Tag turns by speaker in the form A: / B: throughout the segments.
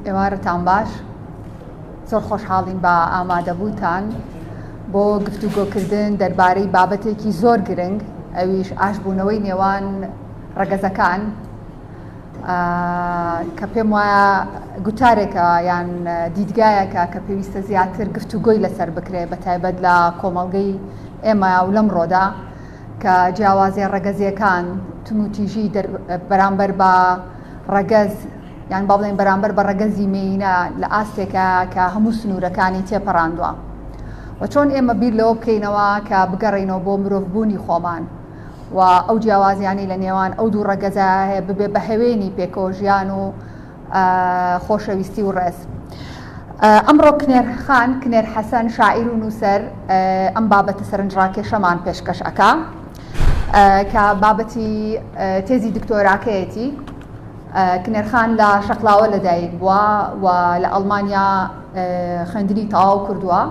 A: ئێوارەتان باش زۆر خۆشحاڵین بە ئامادەبووتان بۆ گفتوگۆکردن دەربارەی بابەتێکی زۆر گرنگ ئەویش ئاشبوونەوەی نێوان ڕەگەزەکان کە پێم وایە گوتارێکە یان دیدگایەکە کە پێویستە زیاتر گفتوگۆی لەسەر بکرێت بە تایبەت لە کۆمەڵگەی ئێمە و لەم ڕۆدا کە جیاوازیە ڕەگەزیەکان تونوتیژی بەرامبەر بە ڕەگەز یان با بڵێن بەرامبەر بە ڕەگەزی مینە لە ئاستێکە کە هەموو سنوورەکانی تێپەڕاندووە و چۆن ئێمە بیر لەوە بکەینەوە کە بگەڕینەوە بۆ مرۆڤبوونی خۆمان. و ئەو جیاوازیانەی لە نێوان ئەو دوو ڕەگەزایە هەیە ببێ بە هەوێنی پێکەوە ژیان و خۆشەویستی و ڕێز. ئەمڕۆ کنێرخان کنێر حەسەن شاعیر و نووسەر ئەم بابەتە سەرنجڕاکێشەمان پێشکەش ئەکا کە بابەتی تێزی دکتۆراکەیەتی کنێرخان لە شەقلاوە لەدایک بووە و لە ئەڵمانیا خوێندنی تەواو کردووە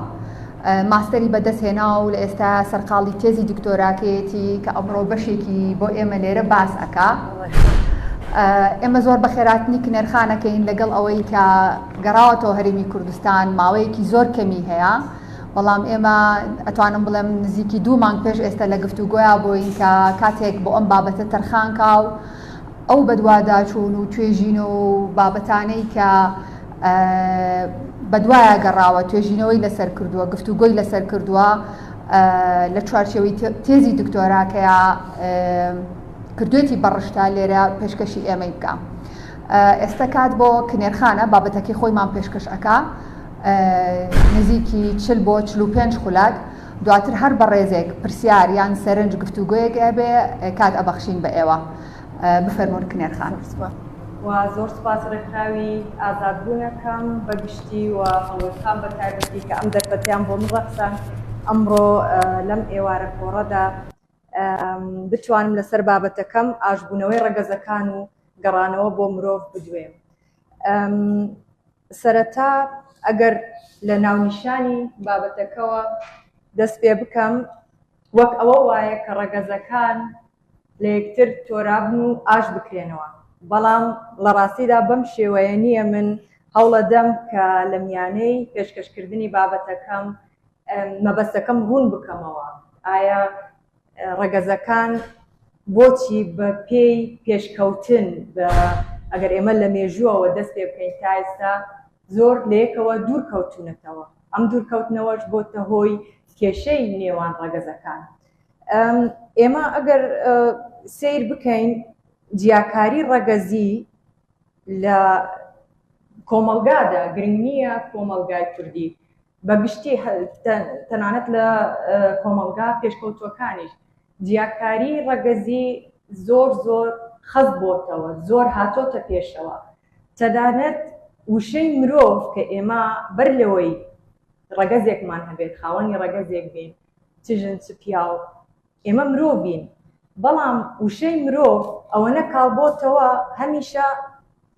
A: ماستەری بەدەست هێنا و لە ئێستا سەرقاڵی تێزی دکتۆراکەیەتی کە ئەمڕۆ بەشێکی بۆ ئێمە لێرە باس ئەکات. ئێمە زۆر بە خێراتنی کنێرخانەکەین لەگەڵ ئەوەی کە گەڕاوەتەوە هەرێمی کوردستان ماوەیەکی زۆر کەمی هەیە، بەڵام ئێمە ئەتوانم بڵێم نزیکی دوو مانگ پێش ئێستا لە گفتوگۆیا بووین کە کاتێک بۆ ئەم بابەتە تەرخانکا و ئەو بەدواداچوون و توێژینەوە و بابەتانەی کە بەدوایە گەڕاوە، توێژینەوەی لەسەر کردووە، گفتوگۆی لەسەر کردووە، لە چوارچێوەی تێزی دکتۆراکەیا کردوویەتی بە ڕشتە، لێرە پێشکەشی ئێمەی بکا. ئێستە کات بۆ کنێرخانە بابەتەکەی خۆیمان پێشکەش ئەکا، نزیکی چل بۆ چل و پێنج خولەک، دواتر هەر بەڕێزێک پرسیار یان سەرنج گفتوگۆیەک ئەبێ کات ئەبەخشین بە ئێوە. بفەرموون کنێر خان. زۆر سوپاس و
B: زۆر سوپاس ڕێکخراوی ئازاد بوونەکەم بە گشتی و هەڵۆی خان بە تایبەتی کە ئەم دەرفەتەیان بۆ من ڕەخساند ئەمڕۆ لەم ئێوارە کۆڕەدا بتوانم لەسەر بابەتەکەم ئاشبوونەوەی ڕەگەزەکان و گەڕانەوە بۆ مرۆڤ بدوێم. سەرەتا ئەگەر لە ناونیشانی بابەتەکەوە دەست پێ بکەم، وەک ئەوە وایە کە ڕەگەزەکان لە یەکتر تۆرابن و ئاش بکرێنەوە، بەڵام لە ڕاستیدا بەم شێوەیە نییە، من هەوڵەدەم کە لە میانەی پێشکەشکردنی بابەتەکەم مەبەستەکەم ڕوون بکەمەوە، ئایا ڕەگەزەکان بۆچی بە پێی پێشکەوتن بە ئەگەر ئێمە لە مێژووەوە دەست پێ بکەین تا ئێستا زۆر لە یەکەوە دوور کەوتوونەتەوە ئەم دوور کەوتنەوەش بۆتە هۆی کێشەی نێوان ڕەگەزەکان ئێمە ئەگەر سیر بکەین جیاکاری ڕەگەزی لە کۆمەلگادا گرنگ نییە کۆمەلگای کوردی بە گشتی تەنانەت لە کۆمەڵگا پێشکەوتووەکانیش جیاکاری ڕەگەزی زۆر زۆر خەست بۆتەوە زۆر هاتۆتە پێشەوە تەنانەت وشەی مرۆڤ کە ئێمە بەر لەوەی ڕەگەزێکمان هەبێت خاوەنی ڕەگەزێک بین چ ژن چ پیاو ئێمە مرۆڤین بەڵام وشەی مرۆڤ ئەوەنە کاڵبۆتەوە هەمیشە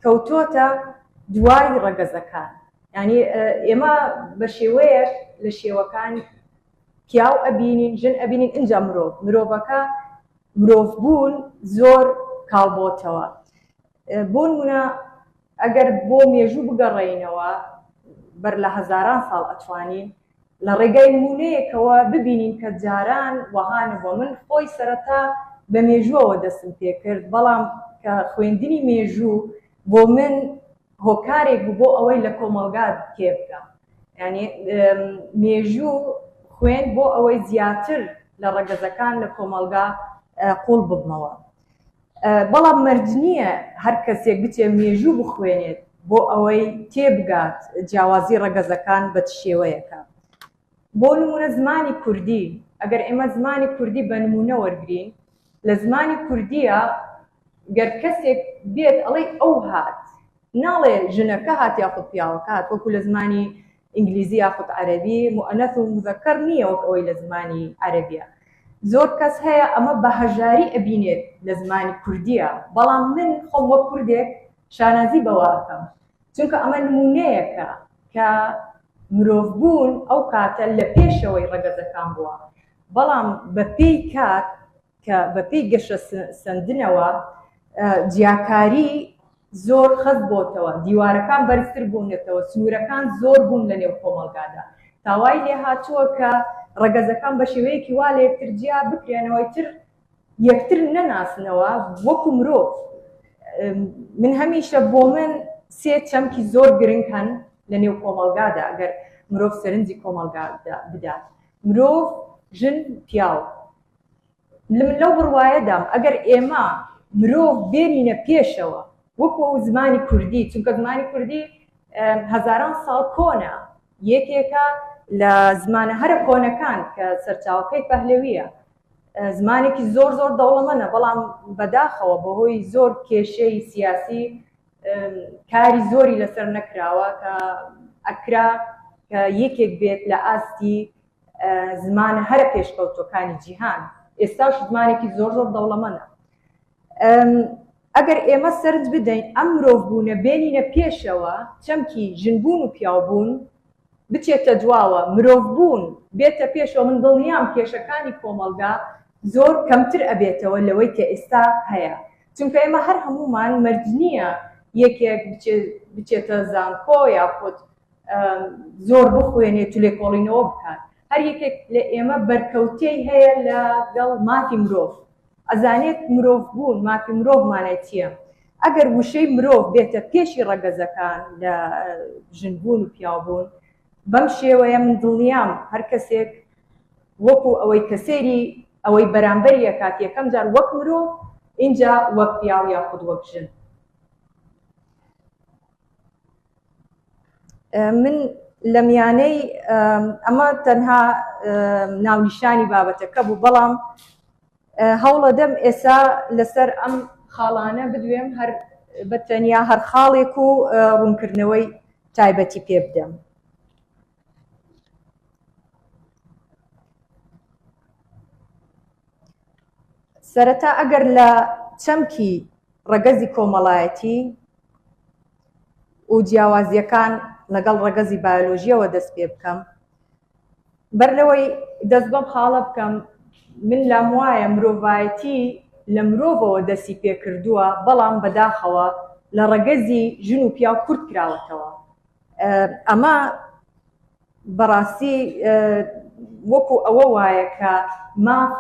B: کەوتۆتە دوای ڕەگەزەکان یانی ئێمە بەشێوەیەک لە شێوەکان پیاو ئەبینین ژن ئەبینین ئینجا مرۆڤ مرۆڤەکە مرۆڤ بوون زۆر کاڵبۆتەوە بۆنمونە ئەگەر بۆ مێژوو بگەڕێینەوە بەر لە هەزاران ساڵ ئەتوانین لە ڕێگای نموونەیەکەوە ببینین کە جاران وەها نەبووە من خۆی سەرەتا بە مێژووەوە دەستم پێ کرد بەڵام کە خوێندنی مێژوو بۆ من هۆکارێک بوو بۆ ئەوەی لە کۆمەڵگا تێبگەم یعنی مێژوو خوێن بۆ ئەوەی زیاتر لە ڕەگەزەکان لە کۆمەڵگا قوڵ ببمەوە بەڵام مەرج نییە هەر کەسێک بچێ مێژوو بخوێنێت بۆ ئەوەی تێبگات جیاوازی ڕەگەزەکان بە چ شێوەیەکە. بۆ نموونە زمانی کوردی، ئەگەر ئێمە زمانی کوردی بە نموونە وەرگرین، لە زمانی کوردییا گەر کەسێک بێت ئەڵێی ئەو هات، ناڵێ ژنەکە هات یاخود پیاوەکە هات، وەکوو لە زمانی ئینگلیزی یاخود عەرەبی موئەنەس و موزەکەر نییە وەک ئەوەی لە زمانی عەرەبییە زۆر کەس هەیە ئەمە بە هەژاری ئەبینێت لە زمانی کوردییە بەڵام من خۆم وەک کوردێک شانازی بەوە ئەکەم چونکە ئەمە نموونەیەکە کە مرۆڤ بوون ئەو کاتە لە پێشەوەی ڕەگەزەکان بووە بەڵام بە پێی کات کە بە پێی گەشە سەندنەوە جیاکاری زۆر خەست بۆتەوە، دیوارەکان بەرزتر بوونەتەوە، سنوورەکان زۆر بوون لە نێو کۆمەڵگادا، تا وای لێ هاتووە کە ڕەگەزەکان بە شێوەیەکی وا لە یەکتر جیا بکرێنەوە ئیتر یەکتر نەناسنەوە وەکوو مرۆڤ. من هەمیشە بۆ من سێ چەمکی زۆر گرنگ هەن لە نێو کۆمەڵگادا ئەگەر مرۆڤ سەرنجی کۆمەڵگا بدات، مرۆڤ، ژن، پیاو. من لەو بڕوایەدام ئەگەر ئێمە مرۆڤ بێنینە پێشەوە وەکو ئەو زمانی کوردی چونکە زمانی کوردی هەزاران ساڵ کۆنە یەکێکە لە زمانە هەرە کۆنەکان کە سەرچاوەکەی پەهلەویە زمانێکی زۆر زۆر دەوڵەمەە بەڵام بەداخەوە بەهۆی زۆر کێشەی سیاسی کاری زۆری لەسەر نەکراوە کە ئەکرا کە یەکێک بێت لە ئاستی زمانە هەرە پێشکەوتوەکانی جیهان ئێستاش زمانێکی زۆر زۆر دەوڵەمەنە ئەگەر ئێمە سرد بدەین ئەم مرۆڤ بوونە بێنینە پێشەوە چەمکی ژنبوون و پیاوبوون بچێتە دواوە مرۆڤ بوون بێتە پێشەوە من دڵنیام کێشەکانی کۆمەڵگا زۆر کەمتر ئەبێتەوە لەوەی کە ئێستا هەیە چونکە ئێمە هەر هەمومان مەرج نییە یەکێک بچێتە زانکۆ یاخود زۆر بخوێنێت و لێکۆڵینەوە بکات هەر یەکێک لە ئێمە بەرکەوتەی هەیە لە گەڵ مافی مرۆڤ ئەزانێت مرۆڤ بوون مافی مرۆڤ مانای چیە ئەگەر وشەی مرۆڤ بێتە پێشی ڕەگەزەکان لە ژن بوون و پیاو بوون بەم شێوەیە من دڵنیام هەر کەسێک وەکو ئەوەی کەسێری ئەوەی بەرامبەری ئەکات یەکەم جار وەک مرۆ ئینجا وەک پیاو یاخود وەک ژن من لە میانەی ئەمە تەنها ناونیشانی بابەتەکە بوو بەڵام هەوڵە دەم ئێسا لەسەر ئەم خاڵانە بدوێم هەر بە تەنیا هەر خاڵێک و ڕوونکردنەوەی تایبەتی پێ بدەم سەرەتا ئەگەر لە چەمکی ڕەگەزی کۆمەڵایەتی و جیاوازییەکان لەگەڵ ڕەگەزی بایۆلۆژییەوە دەست پێ بکەم. بەر لەوەی دەست بەم خاڵە بکەم، من لام وایە مرۆڤایەتی لە مرۆڤەوە دەستی پێ کردووە، بەڵام بەداخەوە لە ڕەگەزی ژن و پیاو کورت کراوەتەوە. ئەمە بە ڕاستی وەکوو ئەوە وایە کە ماف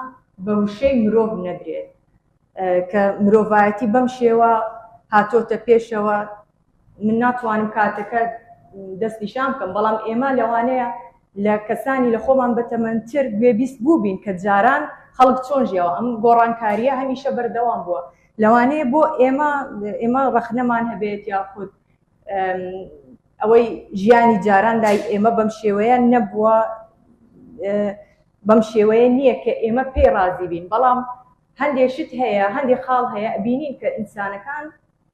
B: بە وشەی مرۆڤ نەدرێت. کە مرۆڤایەتی بەم شێوە هاتۆتە پێشەوە من ناتوانم کاتەکە دەست نیشان بکەم بەڵام ئێمە لەوانەیە لە کەسانی لە خۆمان بەتەمەندتر گوێبیست بووبین کە جاران خەڵک چۆن ژیاوە ئەم گۆڕانکاریە هەمیشە بەردەوام بووە لەوانەیە بۆ ئێمە ئێمە ڕەخنەمان هەبێت یاخود ئەوەی ژیانی جاران لای ئێمە بەم شێوەیە نەبووە بەم شێوەیە نیە کە ئێمە پێی ڕازی بین، بەڵام هەندێ شت هەیە، هەندێ خاڵ هەیە ئەبینین کە ئینسانەکان،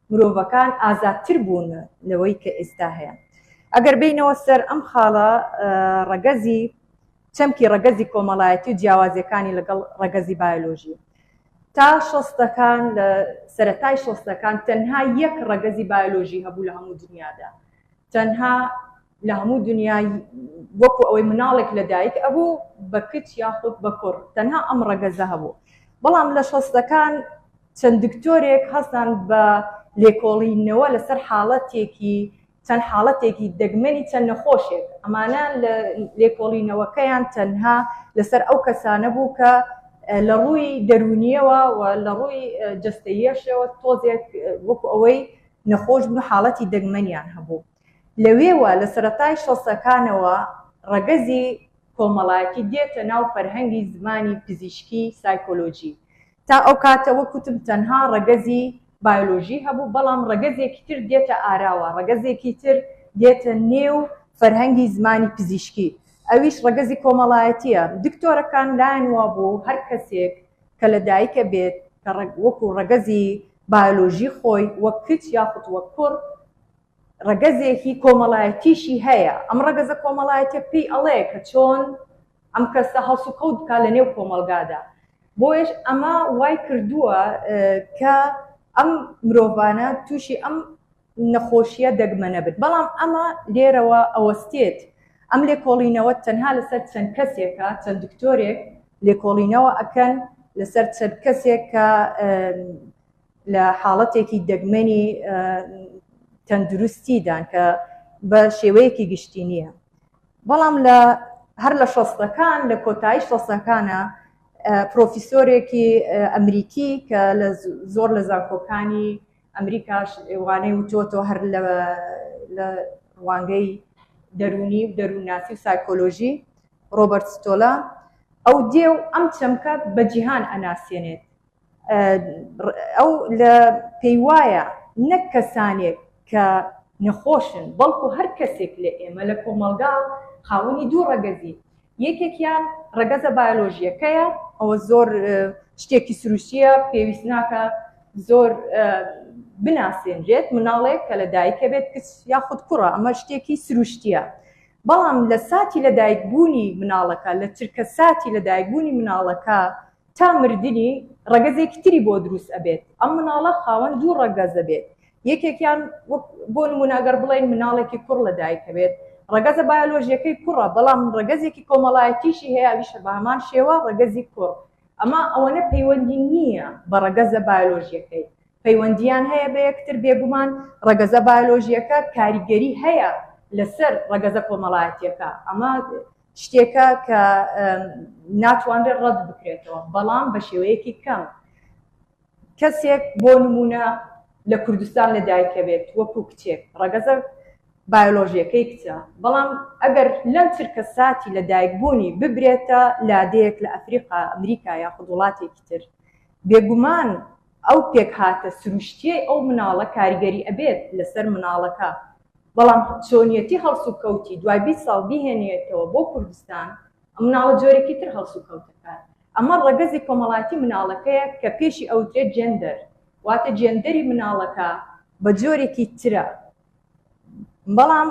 B: مرۆڤەکان ئازادتر بوون لەوەی کە ئێستا هەیە. ئەگەر بێینەوە سەر ئەم خاڵە، ڕەگەزی، چەمکی ڕەگەزی کۆمەڵایەتی و جیاوازیەکانی لەگەڵ ڕەگەزی بایۆلۆژی. تا شەستەکان، لە سەرەتای شەستەکان تەنها یەک ڕەگەزی بایۆلۆژی هەبوو لە هەموو دنیادا. تەنها. لە هەموو دونیا وەکو ئەوەی مناڵێک لە دایک ئەبوو بە کچ یاخود بە کوڕ تەنها ئەم ڕەگەزە هەبوو بەڵام لە شەستەکان چەند دکتۆرێک هەستان بە لێکۆڵینەوە لەسەر حاڵەتێکی چەند حاڵەتێکی دەگمەنی چەند نەخۆشێک ئەمانە لە لێکۆڵینەوەکەیان تەنها لەسەر ئەو کەسانە بوو کە لە ڕووی دەرونیەوە و لە ڕووی جستەیەشەوە تۆزێک وەکو ئەوەی نەخۆش بوو حاڵەتی دەگمەنیان هەبوو لەوێوە لە سەرەتای شەستەکانەوە ڕەگەزی کۆمەڵایەتی دێتە ناو فەرهەنگی زمانی پزیشکی سایکۆلۆجی. تا ئەو کاتە وەک وتم تەنها ڕەگەزی بایۆلۆژی هەبوو، بەڵام ڕەگەزێکی تر دێتە ئاراوە، ڕەگەزێکی تر دێتە نێو فەرهەنگی زمانی پزیشکی، ئەویش ڕەگەزی کۆمەڵایەتییە. دکتۆرەکان لایان وا بوو هەر کەسێک کە لە دایک ئەبێت کە وەکو ڕەگەزی بایۆلۆژی خۆی وەک کچ یاخود وەک کوڕ ڕەگەزێکی کۆمەڵایەتیشی هەیە، ئەم ڕەگەزە کۆمەڵایەتیە پێی ئەڵێ کە چۆن ئەم کەسە هەڵسوکەوت بکات لە نێو کۆمەڵگادا، بۆیەش ئەمە وای کردووە کە ئەم مرۆڤانە تووشی ئەم نەخۆشیە دەگمەنە بن، بەڵام ئەمە لێرەوە ئەوەستێت ئەم لێکۆڵینەوە تەنها لەسەر چەند کەسێکە، چەند دکتۆرێک لێکۆڵینەوە ئەکەن لەسەر چەند کەسێک کە. لە حاڵەتێکی دەگمەنی تەندروستیدان کە بە شێوەیەکی گشتی نییە بەڵام لە هەر لە شەستەکان لە کۆتایی شەستەکانە پرۆفیسۆرێکی ئەمریکی کە لە زۆر لە زانکۆکانی ئەمریکاش وانەی وتۆتۆ هەر لە ڕوانگەی دەرونی و دەروونناسی و سایکۆلۆژی ڕۆبەرت ستۆلا ئەو دێ و ئەم چەمکە بە جیهان ئەناسیێنێت ئەو لە پێی وایە نەک کەسانێک کە نەخۆشن، بەڵکو هەر کەسێک لە ئێمە لە کۆمەڵگا خاوەنی دوو ڕەگەزین، یەکێکیان ڕەگەزە بایۆلۆژییەکەیە، ئەوە زۆر شتێکی سروشتییە پێویست ناکا زۆر بناسێنرێت، مناڵێک کە لە دایکە بێت کچ یاخود کوڕە ئەمە شتێکی سروشتییە، بەڵام لە ساتی لە دایکبوونی مناڵەکە لە چرکە ساتی لە دایکبوونی مناڵەکە، تا مردنی ڕەگەزێکی تری بۆ دروست ئەبێت ئەم مناڵە خاوەن دوو ڕەگەز ئەبێت یەکێکیان وەک بۆ نمونە گەر بڵێین مناڵێکی کوڕ لە دایک ئەبێت ڕەگەزە بایۆلۆژیەکەی کوڕە بەڵام ڕەگەزێکی کۆمەڵایەتیشی هەیە ئەویشە بە هەمان شێوە ڕەگەزی کوڕ ئەمە ئەوەنە پەیوەندی نییە بە ڕەگەزە بایۆلۆژیەکەی پەیوەندیان هەیە بە یەکتر بێگومان ڕەگەزە بایۆلۆژیەکە کاریگەری هەیە لەسەر ڕەگەزە کۆمەڵایەتیەکە ئەمە شتێکە کە ناتوانرێت ڕەت بکرێتەوە، بەڵام بە شێوەیەکی کەم. کەسێک بۆ نموونە لە کوردستان لە دایک بێت وەکو کچێک، ڕەگەزە بایۆلۆژییەکەی کچە، بەڵام ئەگەر لەم چرکە ساتی لە دایک بوونی ببرێتە لادێیەک لە ئەفریقا، ئەمریکا یاخود وڵاتێکی تر، بێگومان ئەو پێکهاتە سروشتیەی ئەو مناڵە کاریگەری ئەبێت لەسەر مناڵەکە، بەڵام چۆنیەتی هەڵسوکەوتی دوای بیست ساڵ بیهێنیەتەوە بۆ کوردستان ئەم مناڵە جۆرێکی تر هەڵسوکەوت دەکات، ئەمە ڕەگەزی کۆمەڵایەتی مناڵەکەیە کە پێشی ئەوترێت جێندەر واتە جێندەری مناڵەکە بەجۆرێکی ترە. بەڵام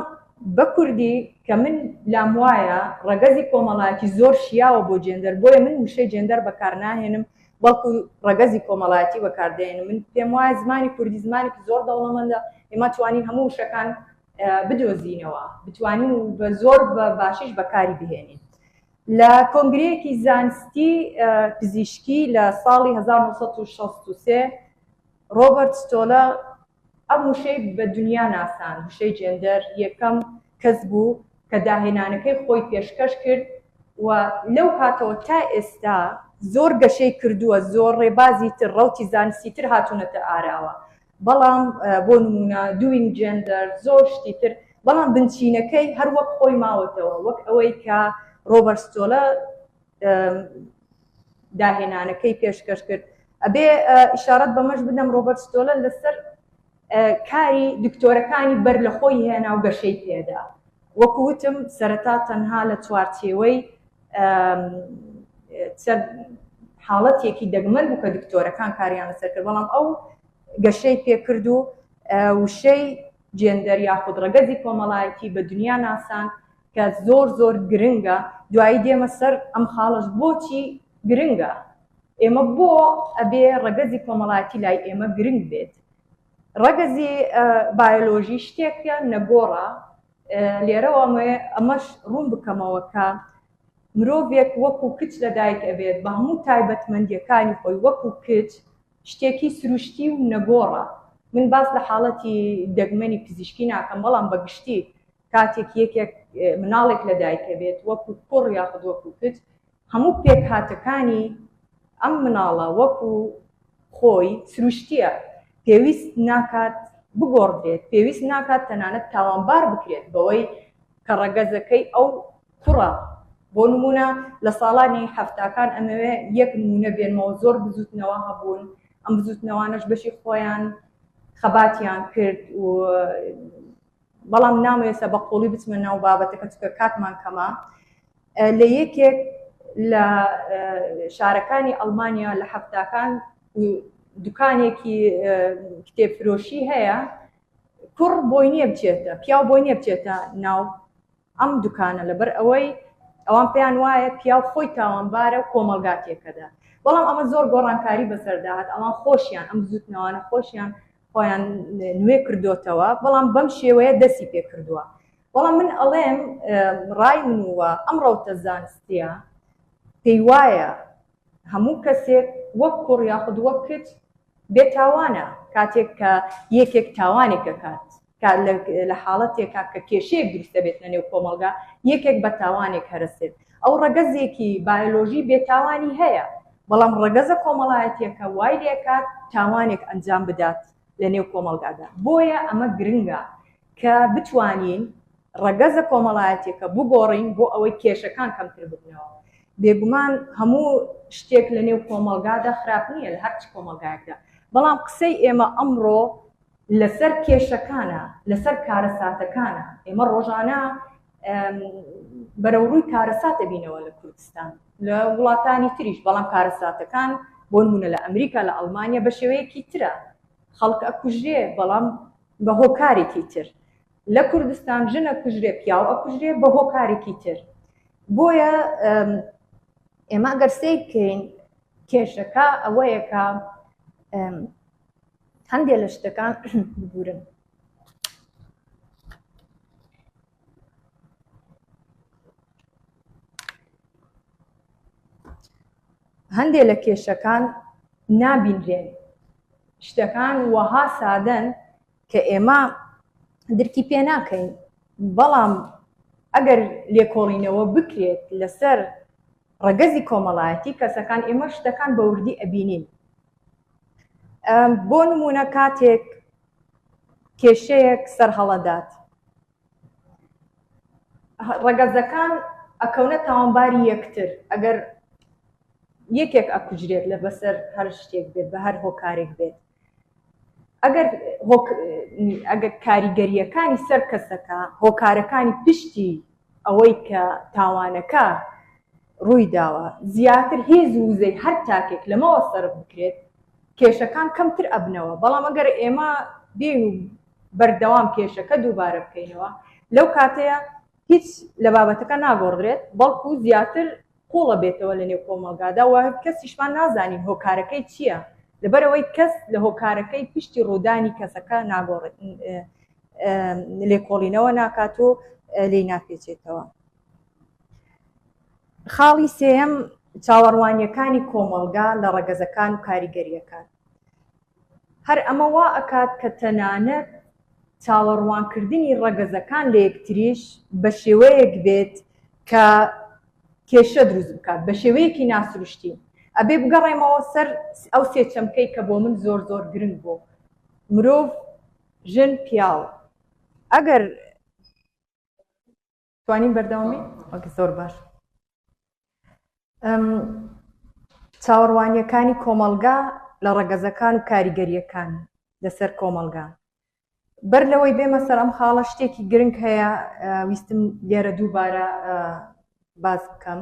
B: بە کوردی کە من لام وایە ڕەگەزی کۆمەڵایەتی زۆر شیاوە بۆ جێندەر بۆیە من وشەی جێندەر بەکار ناهێنم بەڵکو ڕەگەزی کۆمەڵایەتی بەکار دێنم من پێم وایە زمانی کوردی زمانێکی زۆر دەوڵەمەندە ئێمە توانین هەموو وشەکان بدۆزینەوە بتوانین و بە زۆر بە باشیش بەکاری بهێنین لە کۆنگرەیەکی زانستی پزیشکی لە ساڵی 1963 ڕۆبرت ستۆلە ئەم وشەی بە دنیا ناساند، وشەی جێندەر یەکەم کەس بوو کە داهێنانەکەی خۆی پێشکەش کرد و لەو کاتەوە تا ئێستا زۆر گەشەی کردووە، زۆر ڕێبازی تر، ڕەوتی زانستی تر هاتوونەتە ئاراوە، بەڵام بۆ نموونە Doing Gender زۆر شتی تر، بەڵام بنچینەکەی هەر وەک خۆی ماوەتەوە، وەک ئەوەی کە ڕۆبەرت ستۆلە داهێنانەکەی پێشکەش کرد ئەبێ ئشارەت بەمەش بدەم ڕۆبەر ستۆلەن لەسەر کاری دکتۆرەکانی بەر لە خۆی هێنا و گەشەی پێدا وەکوتم سەرەتا تەنها لە چوارچێوەی حاڵەتێکی دەگمەن بوو کە دکتۆرەکان کاریان لەسەر کرد بەڵام ئەو گەشەی پێکرد و وشەی جێندەر یاخود ڕەگەزی کۆمەڵایەتی بە دنیا ناسان کە زۆر زۆر گرنگە دوایی دێمە سەر ئەم خاڵەش بۆچی گرنگە ئێمە بۆ ئەبێ ڕەگەزی کۆمەڵایەتی لای ئێمە گرنگ بێت ڕەگەزی بایۆلۆژی شتێکە نەگۆڕە لێرەوە ئەمەش ڕوون بکەمەوە کە مرۆڤێک وەکو کچ لە دایک ئەبێت بە هەموو تایبەتمەندیەکانی خۆی وەکو کچ شتێکی سروشتی و نەگۆڕە من باس لە حاڵەتی دەگمەنی پزیشکی ناکەم بەڵام بەگشتی کاتێک یەکێک مناڵێک لە دایکەبێت وەکو کوڕ یاخود وەکو کچ هەموو پێکهاتەکانی ئەم مناڵە وەکو خۆی سروشتیە پێویست ناکات بگۆڕدرێت پێویست ناکات تەنانەت تاوانبار بکرێت بەوەی کە ڕەگەزەکەی ئەو کوڕە بۆ نمونە لە ساڵانی هەفتاکان ئەمەوێ یەک نمونە بێنمەوە زۆر بزوتنەوە هەبوون ئەم بزوتنەوانش بەشی خۆیان خەباتیان کرد و بەڵام نامەوێستا بە قوڵی بچمە ناو بابەتەکە چکە کاتمان کەمە لە یەکێک لە شارەکانی ئەڵمانیا لە هەفتاکان دوکانێکی کتێبفرۆشی هەیە کوڕ بۆی نییە بچێتە پیاو بۆی نییە بچێتە ناو ئەم دوکانە لەبەر ئەوەی ئەوان پێیان وایە پیاو خۆی تاوانبارە و کۆمەڵگا تێکەدە بەڵام ئەمە زۆر گۆڕانکاری بەسەرداهات ئەوان خۆشیان ئەم بزوتنەوانە خۆشیان خۆیان نوێ کردوتەوە بەڵام بەم شێوەیە دەستی پێ کردووە بەڵام من ئەڵێم ڕای منوە ئەم ڕەوتە زانستیە پێی وایە هەموو کەسێک وەک کوڕ یاخود وەک کچ بێ تاوانە کاتێک کە یەکێک تاوانێک ئەکات کە لە حاڵەتێکا کە کێشەیەک دروست دەبێت لە نێو کۆمەڵگا یەکێک بە تاوانێک هەرەسێت ئەو ڕەگەزێکی بایۆلۆژی بێ تاوانی هەیە بەڵام ڕەگەزە کۆمەڵایەتیەکە وای لێکات تاوانێک ئەنجام بدات لە نێو کۆمەڵگادا بۆیە ئەمە گرنگە کە بتوانین ڕەگەزە کۆمەڵایەتیەکە بگۆڕین بۆ ئەوەی کێشەکان کەمتر ببنەوە. بێگومان هەموو شتێک لە نێو کۆمەڵگادا خراپ نییە، لە هەر چ کۆمەڵگایەکدا. بەڵام قسەی ئێمە ئەمڕۆ لەسەر کێشەکانە، لەسەر کارەساتەکانە. ئێمە ڕۆژانە بەرەوڕووی کارەسات دەبینەوە لە کوردستان، لە وڵاتانی تریش، بەڵام کارەساتەکان بۆ نموونە لە ئەمریکا، لە ئەڵمانیا بە شێوەیەکی ترە. خەڵک ئەکوژرێ، بەڵام بە هۆکارێکی تر لە کوردستان ژن ئەکوژرێ پیاو ئەکوژرێ بە هۆکارێکی تر بۆیە ئێمە گەر سەیر بکەین کێشەکە ئەوەیەکە هەندێک لە شتەکان ببورن هەندێ لە کێشەکان نابینرێن. شتەکان وەها سادەن کە ئێمە درکی پێ ناکەین، بەڵام ئەگەر لێکۆڵینەوە بکرێت لەسەر ڕەگەزی کۆمەڵایەتی کەسەکان، ئێمە شتەکان بە وردی ئەبینین. بۆ نموونە کاتێک کێشەیەک سەرهەڵەدات، ڕەگەزەکان ئەکەونە تاوانباری یەکتر ئەگەر یەکێک ئەکوژرێت لە بەسەر هەر شتێک بێت بە هەر هۆکارێک بێت ئەگەر ئەگەر کاریگەریەکانی سەر کەسەکە هۆکارەکانی پشتی ئەوەی کە تاوانەکە ڕووی داوە زیاتر هێز وزەی هەر تاکێک لەمەوە سەر بکرێت کێشەکان کەمتر ئەبنەوە بەڵام ئەگەر ئێمە بێن و بەردەوام کێشەکە دووبارە بکەینەوە لەو کاتەیە هیچ لە بابەتەکە ناگۆڕدرێت بەڵکو زیاتر قوڵە بێتەوە لە نێو کۆمەڵگادا و کەسیشمان نازانین هۆکارەکەی چییە لەبەرەوەی کەس لە هۆکارەکەی پشتی ڕوودانی کەسەکە ناگۆڕێت لێکۆڵینەوە ناکات و لی ناپێچێتەوە خاڵی سێم چاوەڕوانیەکانی کۆمەڵگا لە ڕەگەزەکان و کاریگەریەکان هەر ئەمە وا ئەکات کە تەنانەت چاوەڕوانکردنی ڕەگەزەکان لە یەکتریش بە شێوەیەک بێت کە کێشە دروست بکات بە شێوەیەکی ناسروشتی. ئەبێ بگەڕێمەوە سەر ئەو سێ چەمکەی کە بۆ من زۆر زۆر گرنگ بوو، مرۆڤ، ژن، پیاو. ئەگەر. توانین بەردەوام بین وەک زۆر باش چاوەڕوانیەکانی کۆمەلگا لە ڕەگەزەکان و کاریگەریەکان لەسەر کۆمەلگا بەر لەوەی بێمە سەر ئەم خاڵە شتێکی گرنگ هەیە ویستم لێرە دووبارە باز بکەم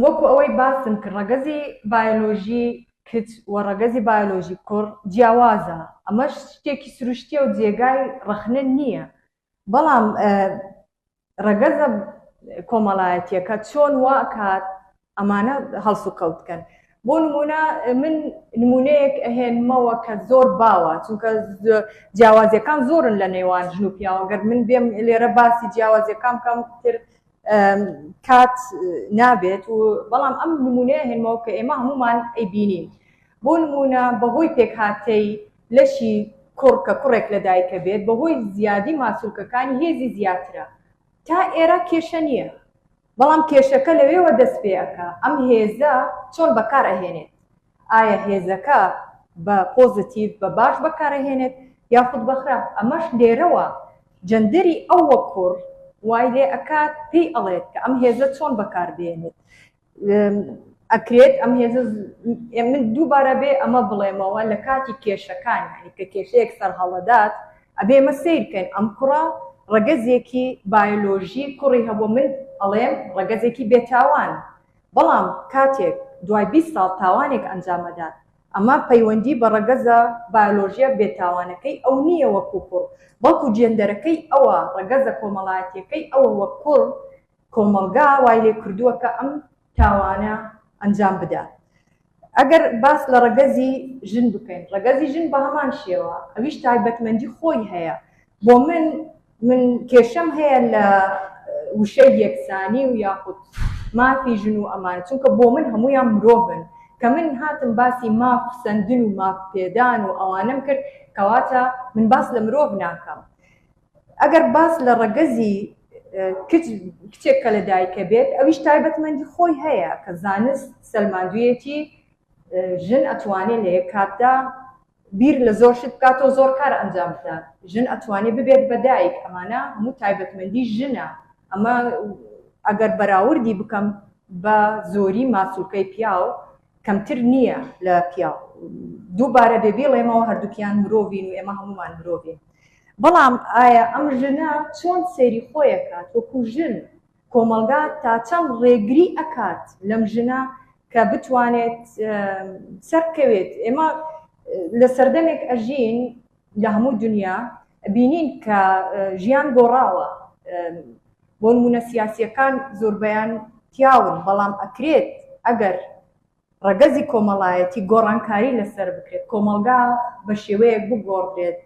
B: وەکو ئەوەی باسم کرد ڕەگەزی بایۆلۆژی کچ و ڕەگەزی بایۆلۆژی کوڕ جیاوازە ئەمەش شتێکی سروشتیە و جێگای ڕخنە نییە بەڵام ڕەگەزە کۆمەڵایەتیەکە چۆن واکات ئەمانە هەڵس و کەوتکەن بۆ نمونە من نمونەیەک ئەهێنمەوە کە زۆر باوە چونکە جیاوازەکان زۆرن لە نێوان ژن و پیاوەگەر من بێم لێرە باسی جیاوازەکان کەم تر کات نابێت و بەڵام ئەم نمونەیە هێنمەوە کە ئێمە هەمومان ئەیبینین بۆ نمونە بەهۆی پێکهاتەی لەشی کوڕ کە کوڕێک لە دایکە بێت بەهۆی زیادی ماسولکەکانی هێزی زیاترە تا ئێرە کێشە نییە بەڵام کێشەکە لەوێوە دەست پێەکە ئەم هێزە چۆن بەکارەهێنێت ئایا هێزەکە بە پۆزەتیڤ، بە باش بەکارئەهێنێت یاخود بە خراپ، ئەمەش لێرەوە جەندەری ئەو وەک کوڕ وای لێ ئەکات پێی ئەڵێت کە ئەم هێزە چۆن بەکار بێنێت ئەکرێت ئەم هێزە من دووبارە بێ ئەمە بڵێمەوە لە کاتی کێشەکان یعنی کە کێشەیەک سەرهەڵەدات ئەبێ ئێمە سەیر بکەین ئەم کوڕە ڕەگەزێکی بایۆلۆژی کوڕی هەبووە من ئەڵێم ڕەگەزێکی بێتاوان بەڵام کاتێک دوای بیست ساڵ تاوانێک ئەنجام ئەدات ئەمە پەیوەندی بە ڕەگەزە بایۆلۆژیە بێتاوانەکەی ئەو نییە وەکو کوڕ بەڵکو جێندەرەکەی ئەوە ڕەگەزە کۆمەڵایەتیەکەی ئەوە وەک کوڕ کۆمەڵگا وای لێکردووە کە ئەم تاوانە ئەنجام بدات ئەگەر باس لە ڕەگەزی ژن بکەین، ڕەگەزی ژن بە هەمان شێوە ئەویش تایبەتمەندی خۆی هەیە، بۆ من من کێشەم هەیە لە وشەی یەکسانی و یاخود مافی ژن و ئەمان، چونکە بۆ من هەموویان مرۆڤن، کە من هاتم باسی ماف سەندن و ماف پێدان و ئەوانەم کرد کەواتە من باس لە مرۆڤ ناکەم، ئەگەر باس لە ڕەگەزی کچ کچێک کە لە دایکە بێت ئەویش تایبەتمەندی خۆی هەیە کە زانست سەلماندویەتی ژن ئەتوانێت لە یەک کاتدا بیر لە زۆر شت بکاتەوە زۆر کار ئەنجام بدات ژن ئەتوانێت ببێت بە دایک ئەمانە هەموو تایبەتمەندی ژنە ئەمە ئەگەر بەراوردی بکەم بە زۆری ماسولکەی پیاو کەمتر نییە لە پیاو. دووبارە بێ بیڵێمەوە هەردووکیان مرۆڤین و ئێمە هەموومان مرۆڤین. بەڵام ئایا ئەم ژنە چۆن سەیری خۆی ئەکات وەکو ژن؟ کۆمەڵگا تا چەند ڕێگری ئەکات لەم ژنە کە بتوانێت سەربکەوێت؟ ئێمە لە سەردەمێک ئەژین لە هەموو دونیا بینین کە ژیان گۆڕاوە بۆ نموونە سیاسیەکان زۆربەیان پیاون بەڵام ئەکرێت ئەگەر ڕەگەزی کۆمەڵایەتی گۆڕانکاری لەسەر بکرێت کۆمەڵگا بە شێوەیەک بگۆڕدرێت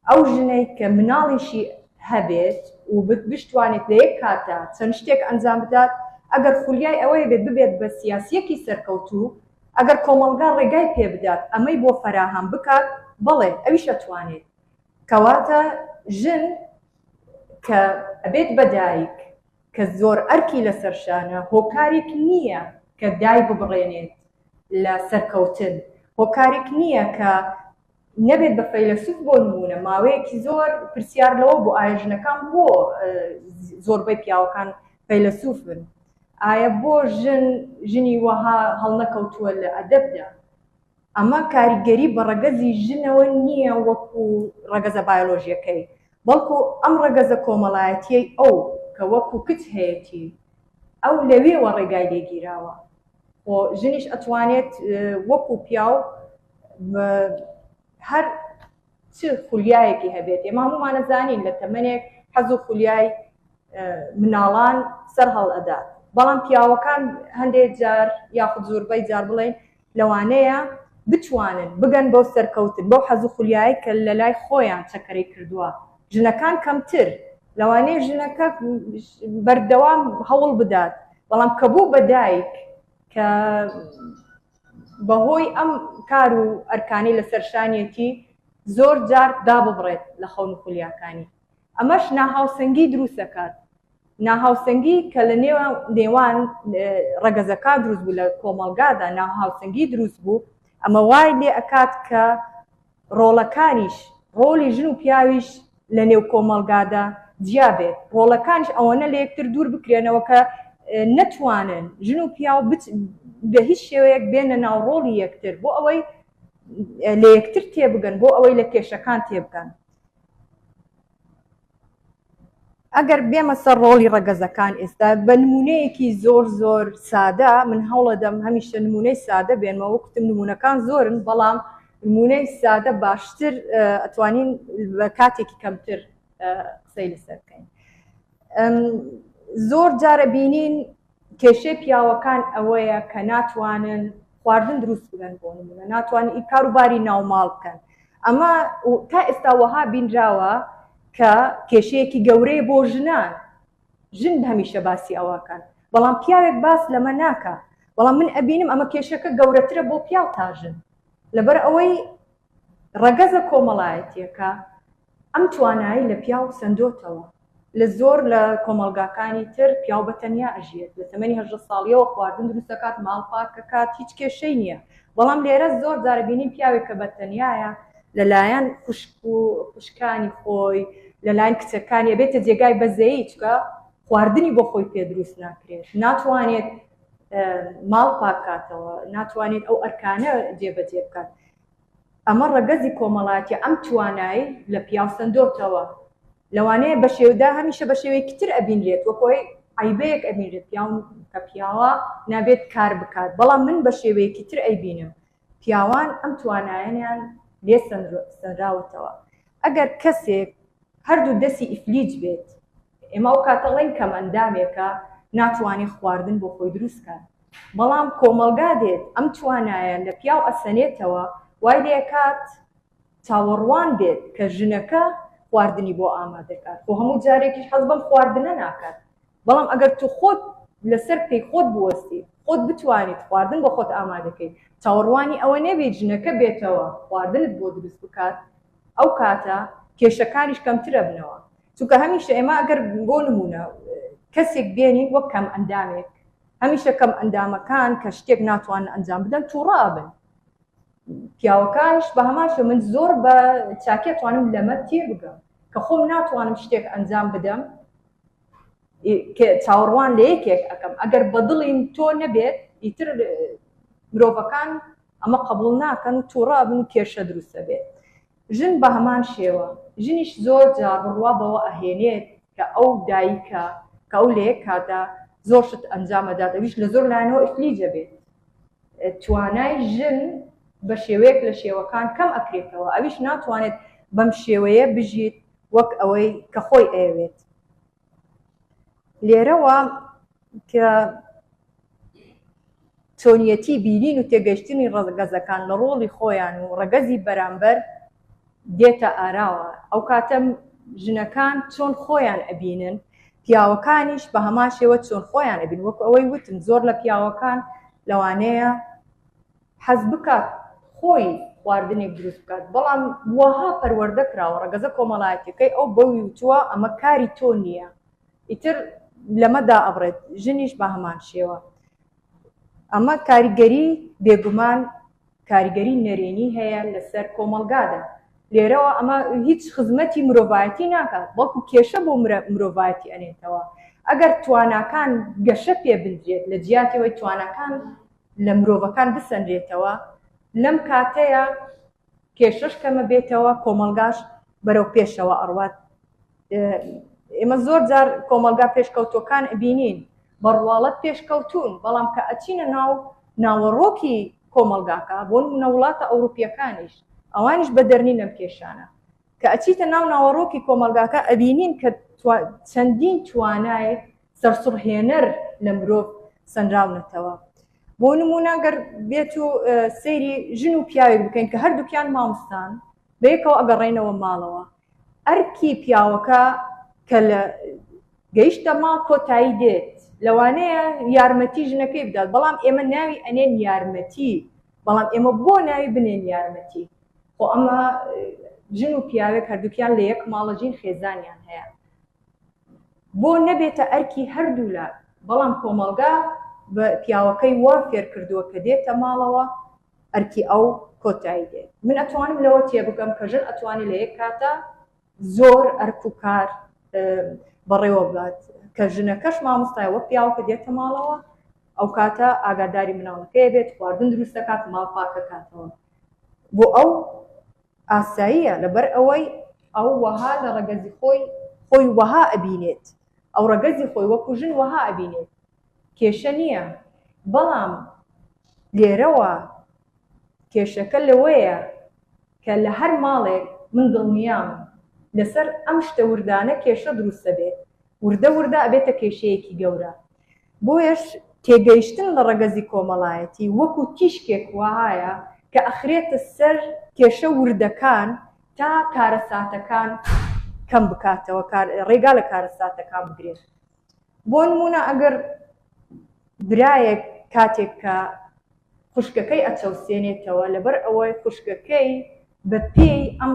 B: ئەو ژنەی کە مناڵیشی هەبێت و بتوانێت لە یەک کاتە چەند شتێک ئەنجام بدات ئەگەر خولیای ئەوەی بێت ببێت بە سیاسیەکی سەرکەوتوو ئەگەر کۆمەڵگا ڕێگای پێ بدات ئەمەی بۆ فەراهەم بکات، بەڵێ ئەویش ئەتوانێت. کەواتە ژن کە ئەبێت بە دایک، کە زۆر ئەرکی لەسەر شانە، هۆکارێک نییە کە دایببڕێنێت لە سەرکەوتن، هۆکارێک نییە کە نەبێت بە فەیلەسوف بۆ نموونە ماوەیەکی زۆر پرسیار لەوە بوو ئایا ژنەکان بۆ زۆربەی پیاوەکان فەیلەسوف بن ئایا بۆ ژن ژنی وەها هەڵنەکەوتووە لە ئەدەبدا ئەمە کاریگەری بە ڕەگەزی ژنەوە نییە وەکو ڕەگەزە بایۆلۆژیەکەی بەڵکو ئەم ڕەگەزە کۆمەڵایەتیەی ئەو کە وەکو کچ هەیەتی ئەو لەوێوە ڕێگای لێگیراوە خۆ ژنیش ئەتوانێت وەکو پیاو هەر چ خولیایەکی هەبێت ئێمە هەموومانە زانین لە تەمەنێک حەز و خولیای مناڵان سەر هەڵ ئەدا بەڵام پیاوەکان هەندێک جار یاخود زۆربەی جار بڵێن لەوانەیە بتوانن بگەن بۆ سەرکەوتن بۆ حەز و خولیای کە لە لای خۆیان چەکەرەی کردووە ژنەکان کەمتر لەوانەیە ژنەکە بەردەوام هەوڵ بدات بەڵام کە بوو بە دایک کە بەهۆی ئەم کار و ئەرکانەی لەسەر شانیەتی زۆر جار داببڕێت لە خەون و خولیاکانی ئەمەش ناهاوسەنگی دروست دەکات ناهاوسەنگی کە لە نێوان ڕەگەزەکان دروست بوو لە کۆمەڵگادا ناهاوسەنگی دروست بوو ئەمە وای لێ ئەکات کە ڕۆڵەکانیش، ڕۆڵی ژن و پیاویش لە نێو کۆمەڵگادا جیا بێت، ڕۆڵەکانیش ئەوەنە لە یەکتر دوور بکرێنەوە کە نەتوانن ژن و پیاو بە هیچ شێوەیەک بێنە ناو ڕۆڵی یەکتر بۆ ئەوەی لە یەکتر تێبگەن، بۆ ئەوەی لە کێشەکان تێبگەن. ئەگەر بێمە سەر ڕۆڵی ڕەگەزەکان ئێستا بە نمونەیەکی زۆر زۆر سادە من هەوڵەدەم هەمیشە نمونەی سادە بێنمە وەکتم نمونونەکان زۆرن بەڵام نمونەی سادە باشتر ئەتوانین بە کاتێکی کەمتر قسەی لەسەر بکەین زۆر جارە بینین کێشەی پیاوەکان ئەوەیە کە ناتوانن خواردن دروست بکەن بۆ نمونە ناتوانن ئی کارو باری ناو ماڵ بکەن ئەمە تا ئێستا وەها بینراوە کە کێشەیەکی گەورەیە بۆ ژنان ژن هەمیشە باسی ئەوەکەن بەڵام پیاوێک باس لەمە ناکا بەڵام من ئەبینم ئەمە کێشەکە گەورەترە بۆ پیاو تا ژن لەبەر ئەوەی ڕەگەزە کۆمەڵایەتییەکە ئەم توانایەی لە پیاو سەندۆتەوە، لە زۆر لە کۆمەڵگاکانی تر پیاو بە تەنیا ئەژیێت، لە تەمەنی هەژدە ساڵییەوە خواردن دروست ئەکات، ماڵ پاک ئەکات، هیچ کێشەی نییە، بەڵام لێرە زۆر جار ئەبینین پیاوێک کە بە تەنیایە لە لایەن خوشک و خوشکانی خۆی، لە لایەن کچەکانی ئەبێتە جێگای بەزەیی، چونکە خواردنی بۆ خۆی پێ دروست ناکرێت، ناتوانێت ماڵ پاک کاتەوە، ناتوانێت ئەو ئەرکانە جێ بە جێ بکات، ئەمە ڕەگەزی کۆمەڵاتیە ئەم توانای لە پیاو سەندۆتەوە لەوانەیە بەشێودا هەمیشە بەشێوەیەکی تر ئەبینرێت وەک هۆی عیبەیەک ئەبینرێت پیاو کە پیاوە نابێت کار بکات بەڵام من بەشێوەیەکی تر ئەیبینم پیاوان ئەم توانایەنیان لێ سەنراوەتەوە ئەگەر کەسێک هەردوو دەسی ئیفلیج بێت ئێمە ئەو کاتە ڵێن کەمئەندامێکە ناتوانێ خواردن بۆ خۆی دروست کات بەڵام کۆمەڵگا دێت ئەم توانایە لە پیاو ئەسەنێتەوە وای لێ ئەکات چاوەڕوان بێت کە ژنەکە خواردنی بۆ ئامادە کات خۆ هەموو جارێکیش حەز بەم خواردنە ناکات بەڵام ئەگەر تو خۆت لەسەر پێی خۆت بوەستیت خۆت بتوانیت خواردن بۆ خۆت ئامادە کەیت چاوەڕوانی ئەوە نەبیت ژنەکە بێتەوە خواردنت بۆ دروست بکات ئەو کاتە کێشەکانیش کەمتر ئەبنەوە چونکە هەمیشە ئێمە ئەگەر بۆ نمونە کەسێک بێنین وەک کەم ئەندامێک هەمیشە کەم ئەندامەکان کە شتێک ناتوان ئەنجام بدەن تووڕابن پیاوەکانش بە هەماشە من زۆر بە چاکێ توانم لەمە تێ بگەم کە خۆم ناتوانم شتێک ئەنجام بدەم چاوەڕوان لە یەکێک ئەەکەم ئەگەر بەدڵین تۆ نەبێت ئیتر مرۆڤەکان ئەمە قبول ناکەن و تووڕابن کێشە دروستە بێت ژن بە هەمان شێوە، ژنیش زۆر جار بڕوا بەوە ئەهێنێت کە ئەو دایکە، کە ئەو لە یەک کاتدا زۆر شت ئەنجام ئەدات، ئەویش لە زۆر لایەنەوە ئیفلیج ئەبێت. توانای ژن بە شێوەیەک لە شێوەکان کەم ئەکرێتەوە، ئەویش ناتوانێت بەم شێوەیە بژیت وەک ئەوەی کە خۆی ئەیەوێت. لێرەوە کە چۆنیەتی بینین و تێگەشتنی ڕەگەزەکان لە ڕۆڵی خۆیان و ڕەگەزی بەرامبەر دێتە ئاراوە ئەو کاتە ژنەکان چۆن خۆیان ئەبینن پیاوەکانیش بە هەمان شێوە چۆن خۆیان ئەبین وەکو ئەوەی وتم زۆر لە پیاوەکان لەوانەیە حەز بکات خۆی خواردنێک دروست بکات، بەڵام واها پەروەردە کراوە ڕەگەزە کۆمەڵایەتیەکەی ئەو بەوی وتووە ئەمە کاری تۆ نییە ئیتر لەمە دائەبڕێت، ژنیش بە هەمان شێوە ئەمە کاریگەری بێگومان کاریگەری نەرێنی هەیە لەسەر کۆمەڵگادا، لێرەوە ئەمە هیچ خزمەتی مرۆڤایەتی ناکات بەڵکو کێشە بۆ مرۆڤایەتی ئەنێتەوە، ئەگەر تواناکان گەشە پێ بدرێت لە جیاتی ئەوەی تواناکان. لە مرۆڤەکان بسەنرێتەوە، لەم کاتەیا کێشەش کەمە بێتەوە، کۆمەڵگاش بەرەو پێشەوە ئەڕوات. ئێمە زۆر جار کۆمەڵگا پێشکەوتوەکان ئەبینین، بە ڕواڵەت پێشکەوتوون، بەڵام کە ئەچینە ناو ناوەڕۆکی کۆمەڵگاکە، بۆ نموونە وڵاتە ئەوروپیەکانیش، ئەوانیش بە دەرنین لەم کێشانە. کە ئەچیتە ناو ناوەڕۆکی کۆمەڵگاکە ئەبینین کە چەندین توانایەک سەرسوڕهێنەر لە مرۆڤ سەنراونەتەوە. بۆ نموونە گەر بێت و سەیری ژن و پیاوێک بکەین کە هەردووکیان ماموستان بەیەکەوە ئەگەڕێنەوە ماڵەوە ئەرکی پیاوەکە کە لە گەیشتە ماڵ کۆتایی دێت لەوانەیە یارمەتی ژنەکەی بدات بەڵام ئێمە ناوی ئەنێن یارمەتی بەڵام ئێمە بۆ ناوی بنێن یارمەتی خۆ ئەمە ژن و پیاوێک هەردووکیان لە یەک ماڵە ژین خێزانیان هەیە بۆ نەبێتە ئەرکی هەردوولا، بەڵام کۆمەڵگا پیاوەکەی وا فێرکردووە کە دێتە ماڵەوە ئەرکی ئەو کۆتایی دێت. من ئەتوانم لەوە تێبگەم کە ژن ئەتوانێت لە یەک کاتا زۆر ئەرک و کار بەڕێوە ببات کە ژنەکەش مامۆستایە وەک پیاوەکە دێتە ماڵەوە ئەو کاتە ئاگاداری مناڵەکەی بێت، خواردن دروست دەکات، ماڵ پاک دەکاتەوە بۆ ئەو. ئاساییە لەبەر ئەوەی ئەو وەها لە ڕەگەزی خۆی خۆی وەها ئەبینێت ئەو ڕەگەزی خۆی وەکو ژن وەها ئەبینێت کێشە نییە بەڵام لێرەوە کێشەکە لەوەیە کە لە هەر ماڵێک من دڵنیام لەسەر ئەم شتە وردانە کێشە دروست دەبێت وردە وردە ئەبێتە کێشەیەکی گەورە بۆیەش تێگەیشتن لە ڕەگەزی کۆمەڵایەتی وەکو تیشکێک وەهایە کە ئەخرێتە سەر کێشە وردەکان تا کارەساتەکان کەم بکاتەوە ڕێگا لە کارەساتەکان بگرێت بۆ نمونە ئەگەر برایەک کاتێک کە خوشکەکەی ئەچەوسێنێتەوە لەبەر ئەوەی خوشکەکەی بە پێی ئەم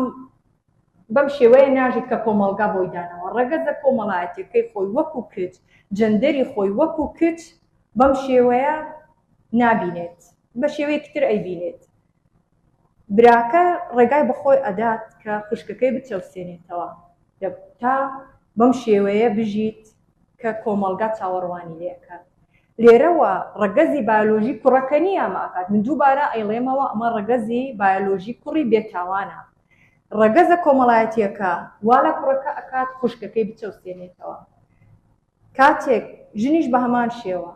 B: بەم شێوەیە ناژیت کە کۆمەڵگا بۆی داناوە، ڕەگەزە کۆمەڵایەتیەکەی خۆی وەکو کچ، جەندەری خۆی وەکو کچ بەم شێوەیە نابینێت، بە شێوەیەکی تر ئەیبینێت. براکە ڕێگای بە خۆی ئەدات کە خوشکەکەی بچەوسێنێتەوە تا بەم شێوەیە بژیت کە کۆمەڵگا چاوەڕوانی لێ ئەکات. لێرەوە ڕەگەزی بایۆلۆژی کوڕەکە نییە ئەمە ئەکات، من دووبارە ئەیڵێمەوە ئەمە ڕەگەزی بایۆلۆژی کوڕی بێتاوانە. ڕەگەزە کۆمەڵایەتیەکە وا لە کوڕەکە ئەکات خوشکەکەی بچەوسێنێتەوە کاتێک ژنیش بە هەمان شێوە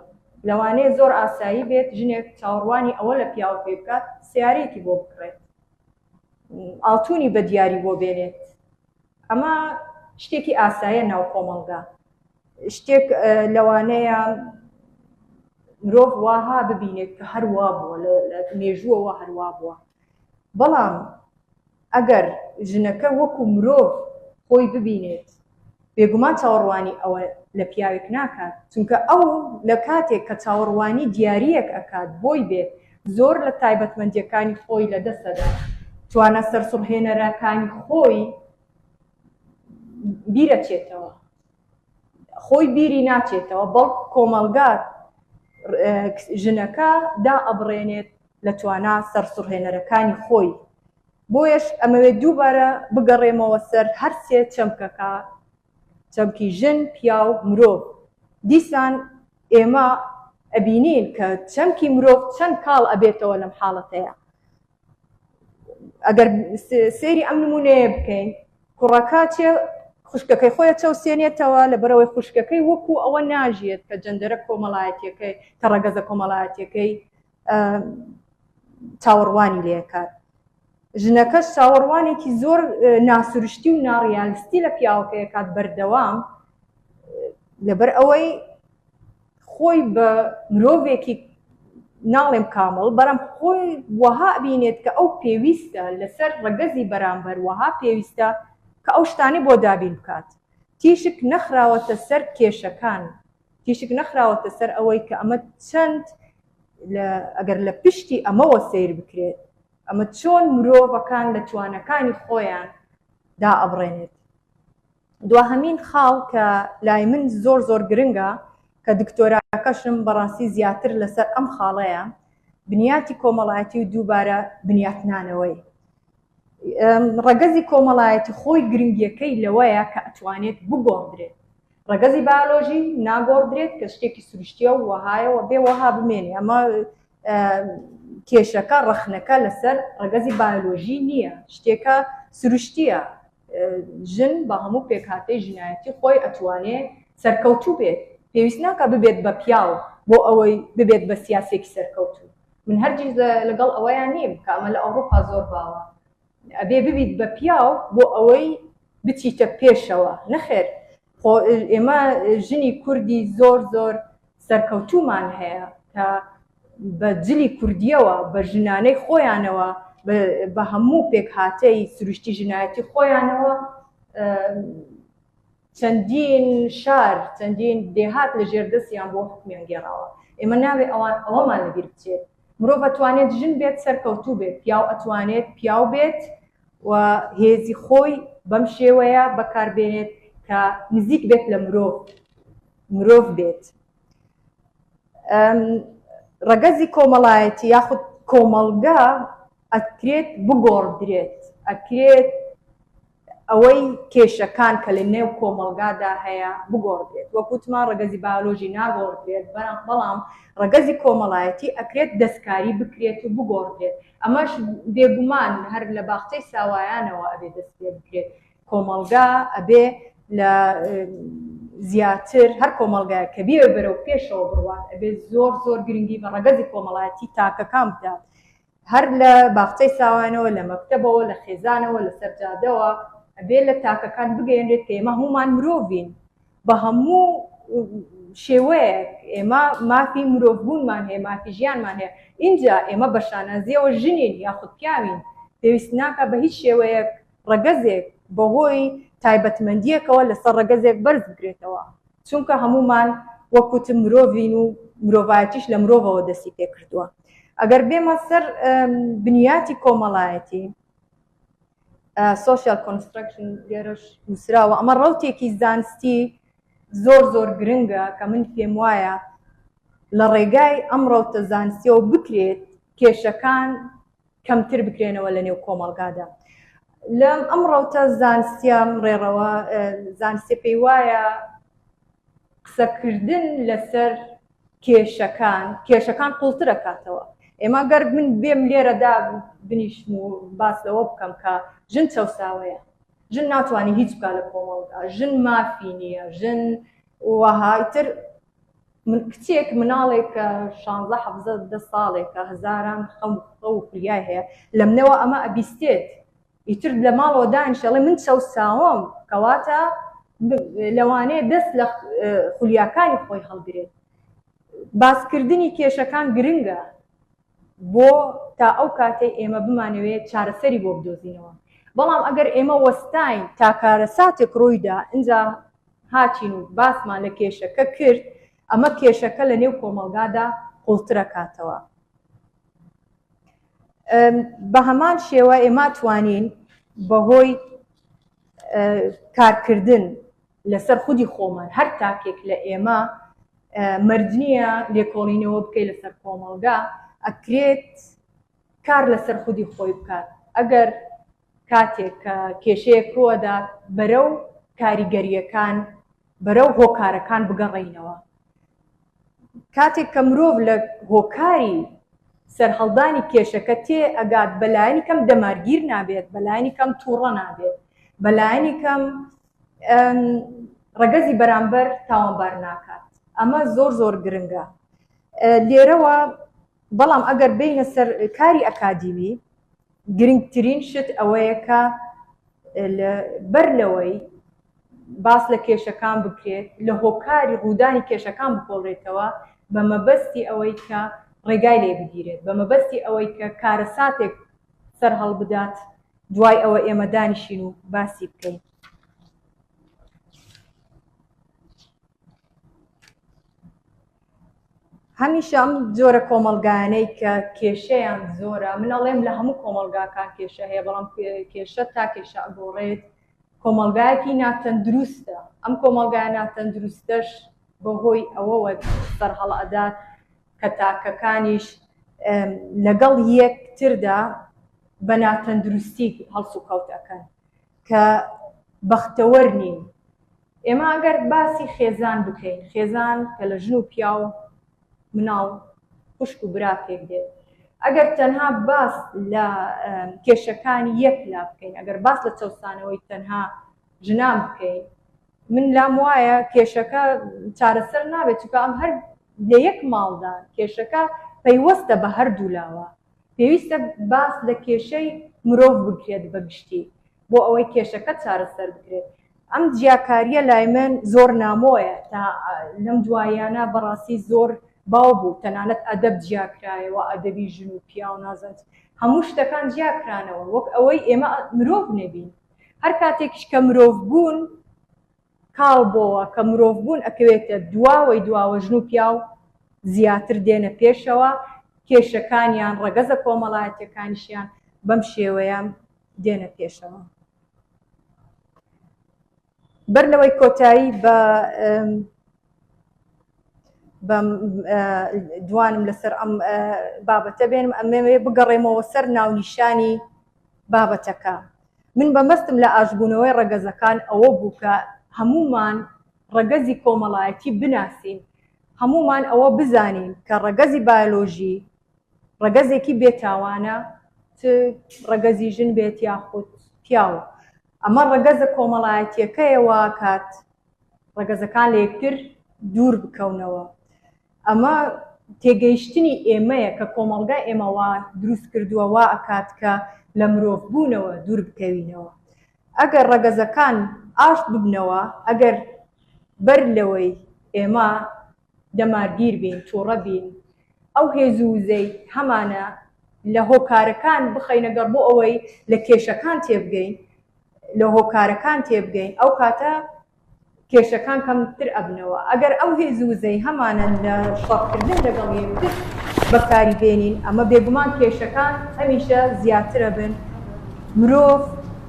B: لەوانەیە زۆر ئاسایی بێت ژنێک چاوەڕوانی ئەوە لە پیاوە پێ بکات سیارێکی بۆ بکڕێت ئاڵتونی بە دیاری بۆ بێنێت ئەمە شتێکی ئاسایە ناو کۆمەڵگا شتێک لەوانەیە مرۆڤ واها ببینێت کە هەروا بووە لە مێژووەوە هەروا بووە بەڵام ئەگەر ژنەکە وەکو مرۆڤ خۆی ببینێت بێگومان چاوەڕوانی ئەوە لە پیاوێک ناکات چونکە ئەو لە کاتێک کە چاوەڕوانی دیارییەک ئەکات بۆی بێت زۆر لە تایبەتمەندیەکانی خۆی لە دەست ئەدات توانا سەرسوڕهێنەرەکانی خۆی بیرەچێتەوە. خۆی بیری ناچێتەوە بەڵکو کۆمەڵگا ژنەکە دائەبڕێنێت لە توانا سەرسوڕهێنەرەکانی خۆی بۆیەش ئەمەوێت دووبارە بگەڕێمەوە سەر هەرسێ چەمکەکە چەمکی ژن پیاو مرۆڤ دیسان ئێمە ئەبینین کە چەمکی مرۆڤ چەند کاڵ ئەبێتەوە لەم حاڵەتەیە ئەگەر سێری ئەم نمونەیە بکەین کوڕەکە چێ خوشکەکەی خۆیە چەوسێنێتەوە لە بەرەوەی خوشکەکەی وەکو ئەوە ناژیێت کە جەندەرە کۆمەڵایەتەکەی کە ڕەگەزە کۆمەڵایەتەکەی چاوەڕوانی لێکات ژنەکەش چاوەڕوانێکی زۆر ناسروشتی و ناڕیالستی لە پیاوەکەیەکات بەردەوام لەبەر ئەوەی خۆی بە مرۆڤێکی ناڵێم کامڵ بەرم خۆی وەها بینێت کە ئەو پێویستە لەسەر ڕەگەزی بەرامبەر وەها پێویستە کە ئەو شتانەی بۆ دابین بکات تیشک نەخراوەتە سەر کێشەکان تیشک نەخراوەتە سەر ئەوەی کە ئەمە چەند ئەگەر لە پشتی ئەمەوە سیر بکرێت ئەمە چۆن مرۆڤەکان لە توانەکانی خۆیان دا ئەبڕێنێت دواهەمین خاڵ کە لای من زۆر زۆر گرنگە کە دکتۆراکەشم بەڕاستی زیاتر لەسەر ئەم خاڵەیە بنیاتی کۆمەڵایەتی و دووبارە بنیاتنانەوەی ڕەگەزی کۆمەڵایەتی خۆی گرنگیەکەی لەوەیە کە ئەتوانێت بگۆڕدرێت ڕەگەزی باۆلۆژی ناگۆڕدرێت کە شتێکی سروشتیە و وەهایەوە بێ وەها بمێنێ ئەمە کێشەکە ڕەخنەکە لەسەر ڕەگەزی باۆلۆژی نییە شتێکە سروشتیە ژن بە هەموو پێکهاتەی ژنایەتی خۆی ئەتوانێ سەرکەوتوو بێت، پێویست ناکا ببێت بە پیاو بۆ ئەوەی ببێت بە سیاسیەکی سەرکەوتوو، من هەرگیز لەگەڵ ئەوەیا نیم کە ئەمە لە ئەوڕوپا زۆر باوە ئەبێ ببیت بە پیاو بۆ ئەوەی بچیتە پێشەوە، نەخێر خۆ ئێمە ژنی کوردی زۆر زۆر سەرکەوتوومان هەیە کە بە جلی کوردییەوە، بە ژنانەی خۆیانەوە، بە هەموو پێکهاتەی سروشتی ژنایەتی خۆیانەوە چەندین شار، چەندین دێهات لە ژێر دەستیان بووە و حوکمیان گێڕاوە. ئێمە نابێ ئەوان، ئەوەمان لە بیر بچێت. مرۆڤ ئەتوانێت ژن بێت سەرکەوتوو بێت، پیاو ئەتوانێت پیاو بێت و هێزی خۆی بەم شێوەیە بەکار بێنێت کە نزیک بێت لە مرۆڤ مرۆڤ بێت. ڕەگەزی کۆمەڵایەتی یاخود کۆمەڵگە ئەکرێت بگۆڕدرێت، ئەکرێت ئەوەی کێشەکان کە لە نێو کۆمەڵگادا هەیە بگۆڕدرێت، وەک وتمان ڕەگەزی بایۆلۆژی ناگۆڕدرێت، بەڵام ڕەگەزی کۆمەڵایەتی ئەکرێت دەستکاری بکرێت و بگۆڕدرێت، ئەمەش بێگومان هەر لە باخچەی ساوایانەوە ئەبێ دەست پێ بکرێت، کۆمەڵگا ئەبێ لە زیاتر هەر کۆمەڵگایەک کە بیەوێت بەرەو پێشەوە بڕوات ئەبێ زۆر زۆر گرنگی بە ڕەگەزی کۆمەڵایەتی تاکەکان بدات، هەر لە باخچەی ساوایانەوە، لە مەکتەبەوە، لە خێزانەوە، لە سەر جادەوە، ئەبێ لە تاکەکان بگەیەنرێت کە ئێمە هەموومان مرۆڤین، بە هەموو شێوەیەک ئێمە مافی مرۆڤبوونمان هەیە، مافی ژیانمان هەیە، ئینجا ئێمە بە شانازییەوە ژنین یاخود پیاوین، پێویست ناکات بە هیچ شێوەیەک ڕەگەزێک بەهۆی تایبەتمەندییەکەوە لەسەر ڕەگەزێک بەرز بکرێتەوە. چونکە هەموومان وەک وتم مرۆڤین و مرۆڤایەتیش لە مرۆڤەوە دەستی پێکردووە ئەگەر بێمە سەر بنیاتی کۆمەڵایەتی سوسیال کۆنسترکشن لێرەش نووسراوە ئەمە ڕوتێکی زانستی زۆر زۆر گرنگە کە من پێم وایە لە ڕێگای ئەم ڕوتە زانستیەوە بکرێت کێشەکان کەمتر بکرێنەوە لە نێو کۆمەڵگادا لەم ئەم ڕەوتە زانستیان ڕێڕەوە زانستێ پێی وایە قسەکردن لەسەر کێشەکان کێشەکان قوڵترەکاتەوە ئێمە گەر من بێم لێرەدا بنیشم و باس لەوە بکەم کە ژن چەساوەیە ژن ناتوانانی هیچ بکە لە کۆمەڵدا ژن مافی نییە ژن وهایتر من کچێک مناڵێک شانزە حەڤزە دە ساڵێکە هەزاران خەم خەو و فریای هەیە لەمنەوە ئەمە ئەبیستێت ئیتر لە ماڵەوە دانیشێ ئەڵێ من چەوساوم کەواتە لەوانەیە دەست لە خولیاکانی خۆی هەڵگرێت باسکردنی کێشەکان گرنگە بۆ تا ئەو کاتەی ئێمە بمانەوێت چارەسەری بۆ بدۆزینەوە، بەڵام ئەگەر ئێمە وەستاین تا کارەساتێک ڕوویدا ئینجا هاتین و باسمان لە کێشەکە کرد، ئەمە کێشەکە لە نێو کۆمەڵگادا قوڵترەکاتەوە. بە هەمان شێوە ئێمە توانین بە هۆی کارکردن لەسەر خودی خۆمان، هەر تاکێک لە ئێمە مەرج نییە لێکۆڵینەوە بکەی لەسەر کۆمەڵگا، ئەکرێت کار لەسەر خودی خۆی بکات، ئەگەر کاتێک کە کێشەیەک رووەدات بەرەو کاریگەرییەکان، بەرەو هۆکارەکان بگەڕێینەوە. کاتێک کە مرۆڤ لە هۆکاری سەرهەڵدانی کێشەکە تێ ئەگات بە لایەنی کەم دەمارگیر نابێت، بە لایەنی کەم تووڕە نابێت، بە لایەنی کەم ڕەگەزی بەرامبەر تاوانبار ناکات ئەمە زۆر زۆر گرنگە لێرەوە بەڵام ئەگەر بینە سەر کاری ئەکادیمی گرنگترین شت ئەوەیە کە بەر لەوەی باس لە کێشەکان بکرێت لە هۆکاری ڕوودانی کێشەکان بکۆڵێتەوە بە مەبەستی ئەوەی کە ڕێگای لێ بگیرێت بە مەبەستی ئەوەی کە کارەساتێک سەر هەڵبدات دوای ئەوە ئێمە دانیشین و باسی بکەین. هەمیشە ئەم جۆرە کۆمەلگایانەی کە کێشەیان زۆرە من ئەڵێم لە هەموو کۆمەلگاکان کێشە هەیە بەڵام کێشە تا کێشە ئەگۆڕێت کۆمەلگایەکی ناتەندروستە ئەم کۆمەلگای ناتەندروستەش بەهۆی ئەوەوە سەرهەڵ ئەدات کە تاکەکانیش لەگەڵ یەک تردا بە ناتەندروستی هەڵسوکەوت ئەکەن کە بەختەوەر نین. ئێمە ئەگەر باسی خێزان بکەین، خێزان کە لە ژن و پیاو مناڵ خوشک و برا پێک دێت، ئەگەر تەنها باس لە کێشەکانی یەک لا بکەین، ئەگەر باس لە چەوسانەوەی تەنها ژنان بکەین، من لام وایە کێشەکە چارەسەر نابێت چونکە ئەم هەر لە یەک ماڵدا کێشەکە پەیوەستە بە هەردوولاوە پێویستە باس لە کێشەی مرۆڤ بکرێت بە گشتی بۆ ئەوەی کێشەکە چارەسەر بکرێت ئەم جیاکاریە لای من زۆر نامۆیە تا لەم دوایانە بەڕاستی زۆر باو بوو تەنانەت ئەدەب جیاکرایەوە ئەدەبی ژن و پیاو نازەنج هەموو شتەکان جیاکرانەوە وەک ئەوەی ئێمە مرۆڤ نەبین هەر کاتێکیش کە مرۆڤ بوون کاڵ بۆوە، کە مرۆڤ بوون ئەکەوێتە دواوەی دواوە ژن و پیاو زیاتر دێنە پێشەوە، کێشەکانیان، ڕەگەزە کۆمەڵایەتیەکانیشیان بەم شێوەیە دێنە پێشەوە. بەر لەوەی کۆتایی بە بەم دوانم لەسەر ئەم بابەتە بێنم ئەمەوێ بگەڕێمەوە سەر ناونیشانی بابەتەکە من بە مەستم لە ئاشتبوونەوەی ڕەگەزەکان ئەوە بوو کە هەموومان ڕەگەزی کۆمەڵایەتی بناسین، هەموومان ئەوە بزانین کە ڕەگەزی بایۆلۆژی ڕەگەزێکی بێ تاوانە چ ڕەگەزی ژن بێت یاخود پیاو ئەمە ڕەگەزە کۆمەڵایەتیەکەیە واکات ڕەگەزەکان لە یەکتر دوور بکەونەوە. ئەمە تێگەیشتنی ئێمەیە کە کۆمەڵگای ئێمە وا دروست کردووە وا ئەکات کە لە مرۆڤ بوونەوە دوور بکەوینەوە. ئەگەر ڕەگەزەکان ئاشت ببنەوە، ئەگەر بەر لەوەی ئێمە دەمارگیر بین، تووڕە بین، ئەو هێز و وزەی هەمانە لە هۆکارەکان بخەینە گەڕ بۆ ئەوەی لە کێشەکان تێبگەین، لە هۆکارەکان تێبگەین، ئەو کاتە کێشەکان کەم تر ئەبنەوە ئەگەر ئەو هێز و وزەی هەمانە لە شەڕ کردن لەگەڵ یەکتر بەکاری بێنین ئەمە بێگومان کێشەکان هەمیشە زیاتر ئەبن مرۆڤ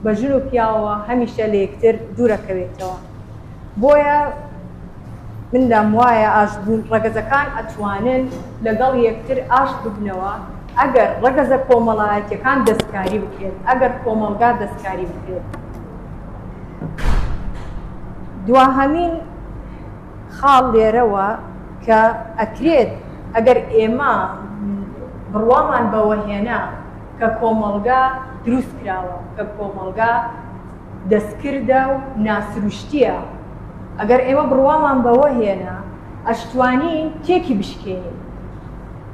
B: بە ژن و پیاوەوە هەمیشە لە یەکتر دوور ئەکەوێتەوە بۆیە من لام وایە ئاشت بوون ڕەگەزەکان ئەتوانن لەگەڵ یەکتر ئاشت ببنەوە ئەگەر ڕەگەزە کۆمەڵایەتیەکان دەستکاری بکرێت ئەگەر کۆمەڵگا دەستکاری بکرێت. دواهەمین خاڵ لێرەوە کە ئەکرێت ئەگەر ئێمە بڕوامان بەوە هێنا کە کۆمەڵگا دروست کراوە، کە کۆمەڵگا دەستکردە و ناسروشتییە، ئەگەر ئێمە بڕوامان بەوە هێنا ئەشتوانین تێکی بشکێنین.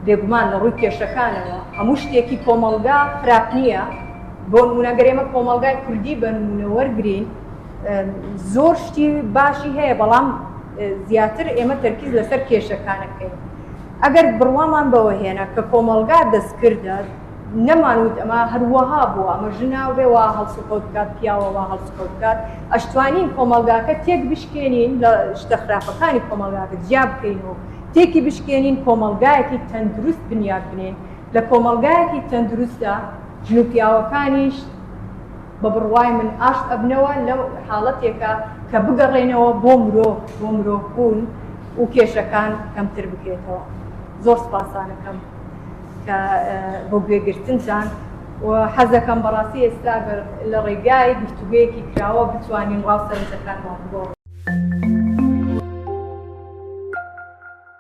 B: بێگومان لە ڕووی کێشەکانەوە هەموو شتێکی کۆمەڵگا خراپ نییە، بۆنمونە گەر ئێمە کۆمەڵگای کوردی بەنمونە وەرگرین زۆر شتی باشی هەیە بەڵام زیاتر ئێمە تەرکیز لەسەر کێشەکانە بکەین ئەگەر بڕوامان بەوە هێنا کە کۆمەڵگا دەستکردە نەمانوت ئەمە هەروەها بووە ئەمە ژناو بێەوە هەڵسوکەوت بکات پیاوەوە هەڵسکەوت بکات ئەشتوانین کۆمەلگاکە تێک بشکێنین لە شتە خراپەکانی کۆمەلگاکە جیا بکەین و تێکی بشکێنین کۆمەلگایەکی تەندروست بنیاد بنێن لە کۆمەلگایەکی تەندروستدا ژن و پیاوەکانیش بە بڕوای من ئاشت ئەبنەوە لە حاڵەتێکا کە بگەڕێنەوە بۆ مرۆڤ بۆ مرۆڤ بوون و کێشەکان کەمتر بکرێتەوە زۆر سپاسانەکەم کە بۆ گوێگرتنتان و حەزەکەم بەڕاستی ئێستا لە ڕێگای گفتوگویەکی کراوە بتوانین ڕاو سەرنجەکانمان بۆ